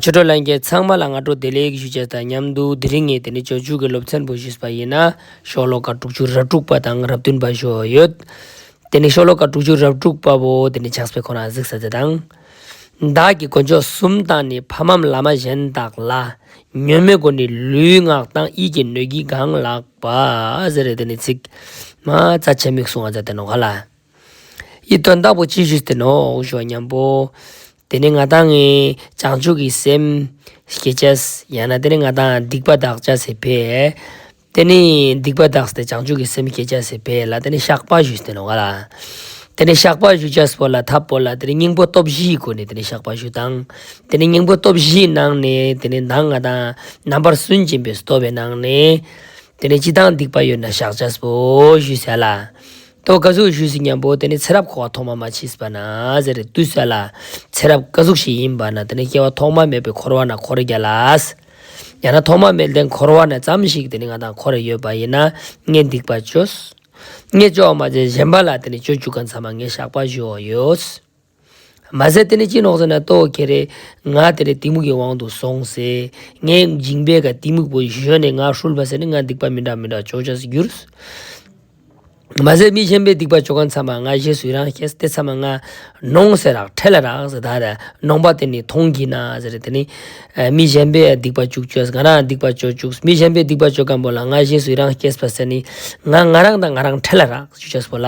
ཆོས་གྲོགས་ལྷན་རྒྱས་ཚང་མ་ལ་སྔ་དྲོ་བདེ་ལེགས་ཞུ་བྱ་དང་མཉམ་དུ་དེ་རིང་ངས་དེ་ནི་བྱོ་བྱུས་ཀྱི་སློབ་ཚན་པོ་ཞུས་པ་ཡིན་ན། ཤོག་ལོ་ཀ་དྲུག་ཅུ་རབ་དྲུག་པ་དང་རབ་བདུན་པ་བཞུ་ཡོད། དེ་ནི་ཤོག་ལོ་ཀ་དྲུག་ཅུ་རབ་དྲུག་པ་བོ་དེ་ནི་ཇག་སྤེ་ཁོ་རང་གཟིགས་ས་དེ་དང། བདག་གི་དཀོན་མཆོག་གསུམ་དང་ནི་ཕ་འམ་བླ་མ་གཞན་དག་ལ། ཉོན་མོད་སྒོ་ནི་ལུས་ངག་དང་ཡིད་ཀྱི་སྣོད་ཀྱིས་གང་ལགས་པ། ཟེར་རེད་དེ་ནི་ཚིག། མ་རྩ་ཆེ་མིག་གསུང་བ་རྫ་དེ་ནོ་ག་ལ། ཡིད་རྟོན་བདག་པོ་ཅི་ཞིག་དེ་ནོ་འོ་ཞོ་སྙམ་པོ། དེ་ནི་ང་དང་ངའི་བྱང་ཆུབ་ཀྱི་སེམས། ཞེས་བྱའོ། ཡང་ན་དེ་ནི་ང་དང་སྡིག་པ་བདག་བྱ་སེ་བས། དེ་ནི་སྡིག་པ་བདག་སྟེ་བྱང་ཆུབ་ཀྱི་སེམས་ཞེས་བྱ་སེ་བས་ལ་དེ་ནི་བཤགས་པ་ཞུས་དེ་ནོ་ང་ལ། དེ་ནི་བཤགས་པ་ཞུ་བྱ་སྤོ་ལ་ཐབས་སྤོ་ལ་དེ་ནི་སྙིང་པོ་སྟོབས་བཞིའི་སྒོ་ནས་དེ་ནི་བཤགས་པ་ཞུ་དང། དེ་ནི་སྙིང་པོ་སྟོབས་བཞིའི་ནང་ནས་དེ་ནི་མདངས་ང་དང་རྣམ་པར་སུན་འབྱིན་པས་སུ་སྟོབས་པའི་ནང་ནས། དེ་ནི་ཅི་དང་སྡིག་པ་ཡོད་ན་བཤགས་བྱ་སྤོ་ཞུས་བྱས་ལ། ད་བར་བཀའ་ཟུར་ཞུས་ཟིན་ཀྱང་བོད་དེ་ནི་ཚེ་རབས་འཁོར་བ་ཐོག་མ་མ་མཆིས་པ་ན་ཟེར་རེ་ལྟོས་ཟེར་ལ། ཚེ་རབས་བཀའ་ཟུར་ཞིག་ཡིན་པ་ན་དེ་ནི་སྐྱེ་བ་ཐོག་མ་མེད་པའི་འཁོར་བ་ན་འཁོར་གྱི་ལ། ཡང་ན་ཐོག་མ་མེད་དེ་འཁོར་བ་ན་ཙམ་ཞིག་དེ་ནི་ང་དང་འཁོར་རེ་ཡོད་པ་ཡིན་ན་ངས་སྡིག་པ་བྱོས། ངས་སྤྱོ་བ་མ་བྱས་གཞན་པ་ལ་དེ་ནི་སྤྱོ་བཅུག་ག་མཚམས་མ་ངས་བཤགས་པ་བཞུ་བ་ཡོད། མ་ཟད་དེ་ནི་སྤྱིར་ནོག་ཟེར་ན་ལྟོ་གེ་རེད། ང་དེ་རེས་གཏི་མུག་གི་དབང་དུ་སོང་ཟེར། ངའི་མཇིང་པས་ཀ་གཏི་མུག་པོ་གཞོན་ནས་ང་ཧྲུལ་བ་ཟེར་ནས་ང་སྡིག་པ་མི་འདྲ་མི་འདྲ་ཅོ་ཅོས་བསྒྱུར། མ་ཟད་མི་གཞན་པའི་སྡིག་པ་ཅོ་ག་མཚམས་མ་ང་ཞེས་སུས་རང་ཤེས་དེ་མཚམས་མ་ང་ནོང་ཟེར་རག་ཁྲེ་ལ་རག་ཟེར་ད་རེ་ནོང་པ་དེ་ནི་མཐོང་གི་ན་ཟེར་རེ་དེ་ནི། མི་གཞན་པའི་སྡིག་པ་ཅུག་ཅོས་ང་རང་སྡིག་པ་ཅོ་ཅུག་མི་གཞན་པའི་སྡིག་པ་ཅོ་ག་འབོ་ལ་ང་ཞེས་སུས་རང་ཤེས་པ་ཟེར་ནི་ང་ང་རང་དང་ང་རང་ཁྲེ་ལ་རག་ཅོ་ཅོས་བོ་ལ་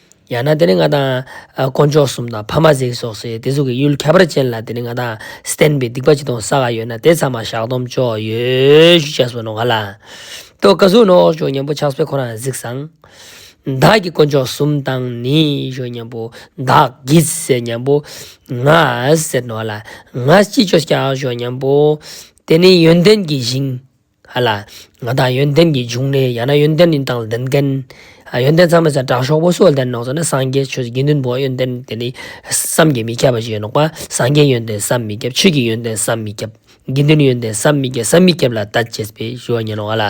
ཡང་ན་དེ་ནི་ང་དང། དཀོན་མཆོག་གསུམ་དང་ཕ་མ་གཟིགས་སོགས་སའི་དེ་གཟུགས་ཀྱི་གཡུལ་ཁྱད་པར་ཅན་ལ་དེ་ནི་ང་དང་བསྟན་པའི་སྡིག་པ་ཅི་དང་ས་ག་ཡོད་ན་དེ་ཚང་མ་བཤགས་སྡོམ་ཅོག་ཡོད་ཤུགས་ཆེ་སོ་ནོ་ག་ལ། ཏོ་ཀ་གཟུགས་ནོག་གཞོན་ཉམས་པོ་ཕྱག་སྤེལ་ཁོ་རང་གཟིགས་སང། བདག་གི་དཀོན་མཆོག་གསུམ་དང་ནི་གཞོན་ཉམས་པོ་བདག་གིས་ཟེར་ཉམས་པོ། ང་ཟེར་ནོ་ག་ལ། ང་ཅི་ཅོ་སྐྱག་གཞོན་ཉམས་པོ། དེ་ནི་ཡོན་ཏན་གྱི་ཞིང། ཧ་ལ། ང་བདག་ཡོན་ཏན་གྱི་འབྱུང་གནས་ཡང་ན་ཡོན་ཏན་ནི་བདག་ལ་ལྡན་སྐལ། ཡོན་ཏན་ཚང་མས་ཚེ་དྲག་ཤོག་པོ་སོགས་ལྡན་ནོག་ཟེར་ན་སངས་རྒྱས་ཆོས་དགེ་འདུན་བོ་ཡོན་ཏན་དེ་ནི་བསམ་གྱིས་མི་ཁྱབ་པ་ཞིག་ཡིན་ནོག་པ་སངས་རྒྱས་ཡོན་ཏན་བསམ་མི་ཁྱབ་ཆོས་ཀྱི་ཡོན་ཏན་བསམ་མི་ཁྱབ། དགེ་འདུན་ཡོན་ཏན་བསམ་མི་ཁྱབ་བསམ་མི་ཁྱབ་ལ་ལྟ་བྱེད་པའི་ཞུ་བ་ཉན་ནོ་ཨ་ལ།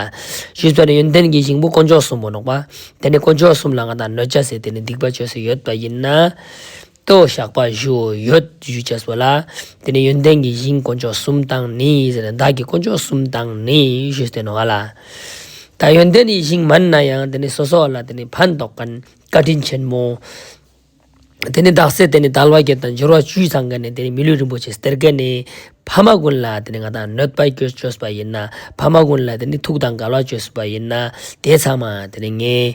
ཞུས་ཚོད་ནི་ཡོན་ཏན་གྱི་ཞིང་པོ་དཀོན་མཆོག་གསུམ་པོ་ནོག་པ། དེ་ནི་དཀོན་མཆོག་གསུམ་ལ་ང་བདག་གནོད་བྱ་ཟེར་དེ་ནི་སྡིག་པ་བྱོས་སུ་ཡོད་པ་ཡིན་ན། ཏོ་བཤགས་པ་བཞིའོ། ཡོད་བཞི་བྱས་སོ་ལ། དེ་ནས་ཡོན་ཏན་གྱི་གཞིའི་དཀོན་མཆོག་གསུམ་དང་ནི། བདག་གི་དཀོན་མཆོག་གསུམ་དང་ནི། ཞེས་བསྟན་ནོ། ཨ་ལ། ད་ཡོན་ཏན་གྱི་གཞིའི་མ་ནི་ན་ཡང་དེ་ནི་སོ་སོ་ལ་དེ་ནི་ཕན་འདོགས་ཀན་བཀའ་དྲིན་ཆེན་མོ། དེ་ནི་བདག་སྲས་དེ་ནི་དལ་བ་བརྒྱད་དང་སྦྱོར་བ་བཅུས་ཚང་ཀན་ནི་དེ་ནི་མི་ལུས་རིན་པོ་ཆེ་སྟེར་ཀན་ནི། ཕ་མ་ཀུན་ལ་དེ་ནི་ང་དང་གནོད་པ་བསྐྱོད་བཅོས་པ་ཡིན་ན། ཕ་མ་ཀུན་ལ་དེ་ནི་ཐུགས་དང་དགའ་བ་བཅོས་བསུ་བ་ཡིན་ན། དེ་ཚང་མ་དེ་ནི་ངའི།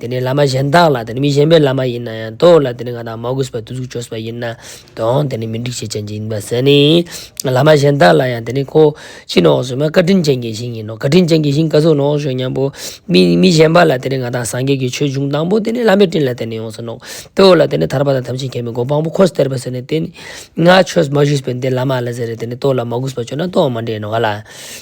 དེ་ནི་བླ་མ་གཞན་དག་ལ་དེ་ནི་མི་གཞན་པའི་བླ་མ་ཡིན་ན་ཡང་དོགས་ལ་དེ་ནི་ང་དང་མ་གོས་པར་དུ་གཟུགས་བྱོས་པ་ཡིན་ན་དོགས་དེ་ནི་མི་འགྲིག་བྱེད་ཅན་གྱི་ཡིན་པར་ཟད་ནི། བླ་མ་གཞན་དག་ལ་ཡང་དེ་ནི་ཁོ་ཕྱི་ནང་གསུམ་བཀའ་དྲིན་ཅན་གྱི་ཞིང་ཡིན་ནོ་བཀའ་དྲིན་ཅན་གྱི་ཞིང་བཀའ་སྲུང་ནོག་ཞོན་སྙམ་པོ། མི་གཞན་པ་ལ་དེ་ནི་ང་དང་སངས་རྒྱས་ཀྱི་ཆོས་འབྱུང་དང་པོ་དེ་ནི་བླ་མའི་སྤྲིན་ལ་དེ་ནི་ཡོངས་སུ་ནོག་དོགས་ལ་དེ་ནི་ཐར་པ་དང་ཐམས་ཅད་མཁྱེན་པའི་སྒོ་དཔང་པོ་ཁོ་སྟེར་བ་ཟེར་ནས་དེ་ནི་ང་ཆོས་མ་ཞུས་པས་འདི་བླ་མ་ལ་ཟེར་རེ་དེ་ནི་དོགས་ལ་མ་གོས་པར་བྱོས་ན་དོགས་མ་འདྲེས་ནོ་ག་ལ།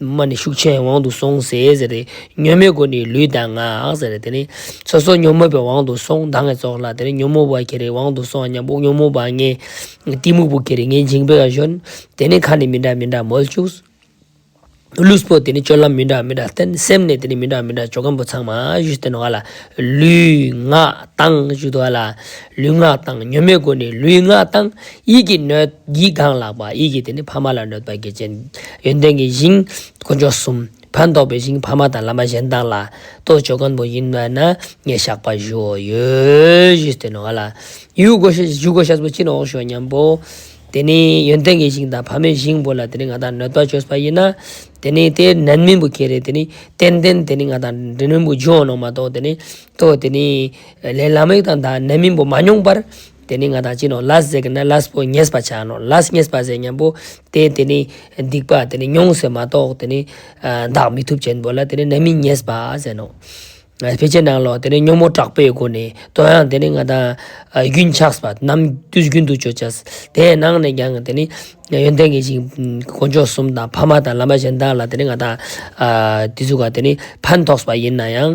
མ་ནི་ཤུགས་ཆེན་དབང་དུ་སོང་ཟེ་ཟེར་ཏེ། སྙོན་མོའི་སྒོ་ནི་ལུས་དང་ངག་ཟེར་རེ་དེ་ནི། ཚོ་སོགས་སྙོན་མོ་པའི་དབང་དུ་སོང་མདངས་ཀྱི་ཚོགས་ལ་དེ་ནི་སྙོན་མོ་བ་གྱེར་རེའི་དབང་དུ་སོང་མཉམ་དབུགས་སྙོན་མོ་བ་ལྔའི། གཏི་མུག་བུ་གྱེར་རེ་ལྔའི་འཇིང་པོའི་གཞོན། དེ་ནི་ཁ་ནི་མི་འདྲ་མི་འདྲ་མོལ་བཅུག། ལུས་པོ་དེ་ནི་སྤྱོད་ལམ་མི་འདྲ་མི་འདྲ་བསྟན། སེམས་ནི་དེ་ནི་མི་འདྲ་མི་འདྲ་སྤྱོད་སྒམ་པོ་ཚང་མ་བཞུ་བསྟན་བ་ལ། ལུས། ངག། དང་བཞུ་བསྟན་བ་ལ། ལུས་ངག་དང་ཉོན་མོངས་ཀུན་ནས་ལུས་ངག་དང་ཡིད་ཀྱིས་གནོད། ཡིད་གང་ལགས་པ་ཡིད་ཀྱིས་དེ་ནི་ཕ་མ་ལ་གནོད་པ་གྱི་རྐྱེན། ཡོན་ཏན་གྱི་ཞིང། དཀོན་མཆོག་གསུམ། ཕན་འདོགས་པའི་ཞིང་ཕ་མ་དང་བླ་མ་གཞན་དག་ལ། གཏོ་ཆོས་སྐམ་པོ་ཡིན་བས་ན་ངས་བཤགས་པ་ཞུའོ། ཡོས་བཞི་སྟེ་ནོ། ཡུལ་སྒོ་ཞུ་སྒོ་ཤ་ཟ་བུ་གཅིག་ནི་འོག་ཞུའོ་སྙམ་པོ། དེ་ནི་ཡོན་ཏན་གྱི་ཞིང་དང་ཕ་མའི་ཞིང་བོ་ལ་དེ་ནི་ང་དང་གནོད་པ་ཆོས་པ་ཡིན་ན། དེ་ནི་ཏེ་ནན་མིན་པོ་ཁྱེད་རེ་དེ་ནི་ཏན་ཏན་དེ་ནི་ང་དང་འདྲེ་མིན་པོ་ཇོ་ནང་མ་གཏོགས་དེ་ནི་གཏོ་དེ་ནི། ལས་ལ་མིག་དང་དང་ནད་མིང་པོ་མ་མྱོང་པར། དེ་ནི་ང་དང་གཅིག་ནོ་ལཱས་ཟེར་གི་ན་ལཱས་པོ་ཉེས་པ་བྱ་ནོ་ལཱས་ཉེས་པ་ཟེར་སྙམ་པོ་སྟེ་དེ་ནི་སྡིག་པ་དེ་ནི་མྱོང་ཟེར་མ་གཏོགས་དེ་ནི། འདག་མི་ཐུབ་ཅན་པོ་ལ་དེ་ནི་ནད་མིང་ཉེས་པ་ཟེར་ནོ། ཕལ་ཆེར་ནང་ལོགས་དེ་ནི་སྨྱོ་མོ་དྲག་པོའི་སྒོ་ནས་དོན་ཡང་དེ་ནི་ང་དང། རྒྱུན་ཆགས་པ་རྣམས་དུས་རྒྱུན་དུ་བརྗོད་བྱ། དེ་ཡང་ནང་ནས་ཀྱང་དེ་ནི། ཡོན་ཏན་གྱི་ཞིང། དཀོན་མཆོག་གསུམ་དང་ཕ་མ་དང་བླ་མ་གཞན་དག་ལ་དེ་ནི་ང་དང། དེ་ཚུགས་ཀ་དེ་ནི་ཕན་ཐོགས་པ་ཡིན་ན་ཡང།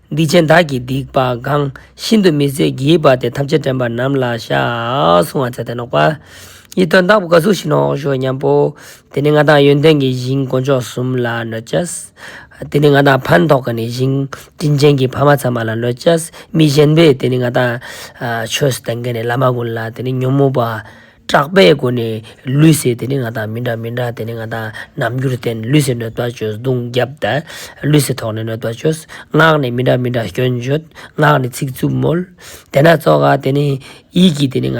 སྡིག་ཅན་བདག་གིས་སྡིག་པ་འགངས་ཤིན་ཏུ་མི་བཟོད་བགྱིས་པ་དེ་ཐམས་ཅད་དྲན་པ་རྣམས་ལ་བྱ། སྲུང་བ་ཚད་ལྡན་ལོག་པ། ཡིད་རྟོན་བདག་པོ་འགའ་ཟུག་ཤིང་ནོག་གཞོག་མཉམ་པོ། དེ་ནི་ང་དང་ཡོན་ཏན་གྱི་ཞིང་དཀོན་མཆོག་གསུམ་ལ་གནོད་བྱ། དེ་ནི་ང་དང་ཕན་ཐོགས་ཀྱི་ནི་ཞིང་དྲིན་ཅན་གྱི་ཕ་མ་ཚང་མ་ལ་གནོད་བྱ། མི་གཞན་པས་དེ་ནི་ང་དང། ཆོས་སུ་གཏན་འཁེལ་ནས་བླ་མ་ཀུན་ལ་དེ་ནི་ཉོན་མོངས་པ། གྲགས་པའི་སྒོ་ནས་ལུས་སེལ་དེ་ནི་ང་དང་མི་འདྲ་མི་འདྲ་དེ་ནི་ང་དང་རྣམ་འགྱུར་བསྟན་ལུས་སེལ་གནོད་པ་བཅོས་གདུང་རྒྱབ་བདལ། ལུས་སེལ་ཐོག་ནས་གནོད་པ་བཅོས། ངག་ནས་མི་འདྲ་མི་འདྲ་སྐྱོན་བརྗོད། ངག་ནས་ཚིག་རྩུབ་མོལ། དེ་ན་གཙོ་ཁ་དེ་ནི། ཡིད་ཀྱིས་དེ་ནི་ང་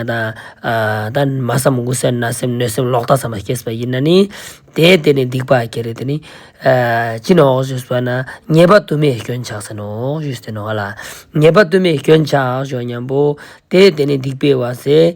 དང། མ་བསམ་དགུ་བསམ་ན་སེམས་གནོད་སེམས་ལོག་ལྟ་ཚང་མ་སྐྱེས་པ་ཡིན་ན་ནི། དེ་དེ་ནི་སྡིག་པ་ཁྱེད་རེད་དེ་ནི། ཅི་ནོ་འོག་བཅོས་བར་ན་ཉེས་པ་དུ་མས་སྐྱོན་ཆགས་ཟེར་ནོ་འོག་བཅོས་དེ་ནོ་ང་ལ། ཉེས་པ་དུ་མས་སྐྱོན་ཆགས་ཞོག་སྙམ་པོ། དེ་དེ་ནི་སྡིག་པའི་བ་ཟེ།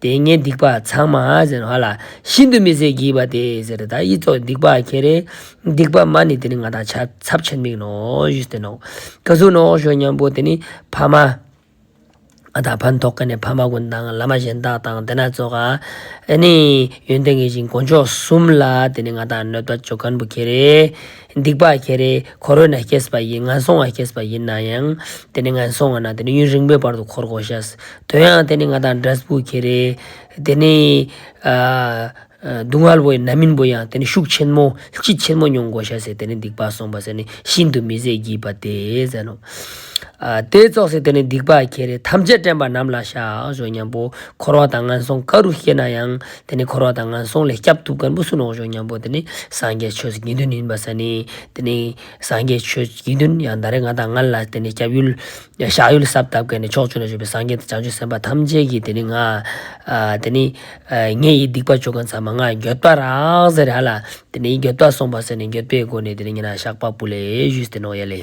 དེ་ངན་སྡིག་པ་ཚང་མ་ཟེར་བ་ལ་ཤིན་ཏུ་མི་བཟད་བགྱིས་པ་དེ་ཟེར་ད་ཡིད་སྩོགས་སྡིག་པ་ཁྱེད་རེད་སྡིག་པ་མ་ནི་དེ་ནི་ང་དང་ཆ་ཚབ་ཆེར་མིག་ནོ་བཞི་སྟེ་ནོག་ག་ཟུག་ནོག་ཞོ་མཉམ་པོ་དེ་ནི་ཕ་མ་ང་དང་ཕ་མཐོ་ག་ནས་ཕ་མ་ཀུན་དང་བླ་མ་གཞན་དག་དང་དེ་ན་གཙོ་ག་ནི་ཡོན་ཏན་གྱི་ཞིང་དཀོན་མཆོག་གསུམ་ལ་དེ་ནི་ང་དང་གནོད་པ་ཅོ་གར་འབུ་ཁྱེད་རེད། སྡིག་པ་ཁྱེད་རེ་འཁོར་འོད་ན་སྐྱེས་པ་ཡིན་ངན་སོང་བ་སྐྱེས་པ་ཡིན་ན་ཡང་དེ་ནི་ངན་སོང་བ་ན་དེ་ནི་ཡུན་རིང་པོའི་བར་དུ་འཁོར་གོ་ཤེས་དོན་ཡང་དེ་ནི་ང་དང་འདྲ་སྤུ་ཁྱེད་རེ། དེ་ནི། སྡུག་བསྔལ་བོ་ཡིན་ན་མིན་བོ་ཡང་དེ་ནི་ཤུགས་ཆེན་མོ་ལྕི་ཆེན་མོ་མྱོང་གོ་ཤེས་དེ་ནི་སྡིག་པ་སོང་བ་ཟེར་ནི་ཤིན་ཏུ་མི་བཟད་བགྱིད་པ་དེ་ཟེར་ནོ། དེ་རྫོགས་ཟིན་དེ་ནི་སྡིག་པ་ཁྱེད་རེ་ཐམས་ཅད་དྲན་པ་ནམ་ལ་བཞག་བཞོ་སྙམ་པོ་འཁོར་བ་དང་ངན་སོང་ག་རུ་སྐྱེས་ན་ཡང་དེ་ནི་འཁོར་བ་དང་ངན་སོང་ལས་སྐྱབས་ཐུབ་དཀར་མོ་བསུ་ནོག་ཆོག་སྙམ་པོ་དེ་ནི་སངས་རྒྱས་ཆོས་དགེ་འདུན་ཡིན་པ་ས་ནི། དེ་ནི་སངས་རྒྱས་ཆོས་དགེ་འདུན་ཡང་ད་རེས་ང་དང་ངལ་ལ་དེ་ནི་སྐྱབས་ཡུལ། བཞག་ཡུལ་སབ་བཏབ་གལ་ནི་ཕྱོགས་བཅུ་ན་བཞུགས་པའི་སངས་རྒྱས་དང་བྱང་ཆུབ་སེམས་དཔའ་ཐམས་ཅད་ཀྱིས་དེ་ནི་ང། དེ་ནི། ངེད་ཡི་སྡིག་པ་བཅུ་གང་ཚང་མ་ང་འགྱོད་པ་རགས་ཟེར་ཧ་ལ། དེ་ནི་འགྱོད་པ་སོང་པ་ཟེར་ནས་འགྱོད་པའི་སྒོ་ནས་དེ་ནི་ངེད་ན་ཞགས་པ་སྤུ་ལེ་བཞུས་ཏེ་ནོག་ཡལ་ལེ།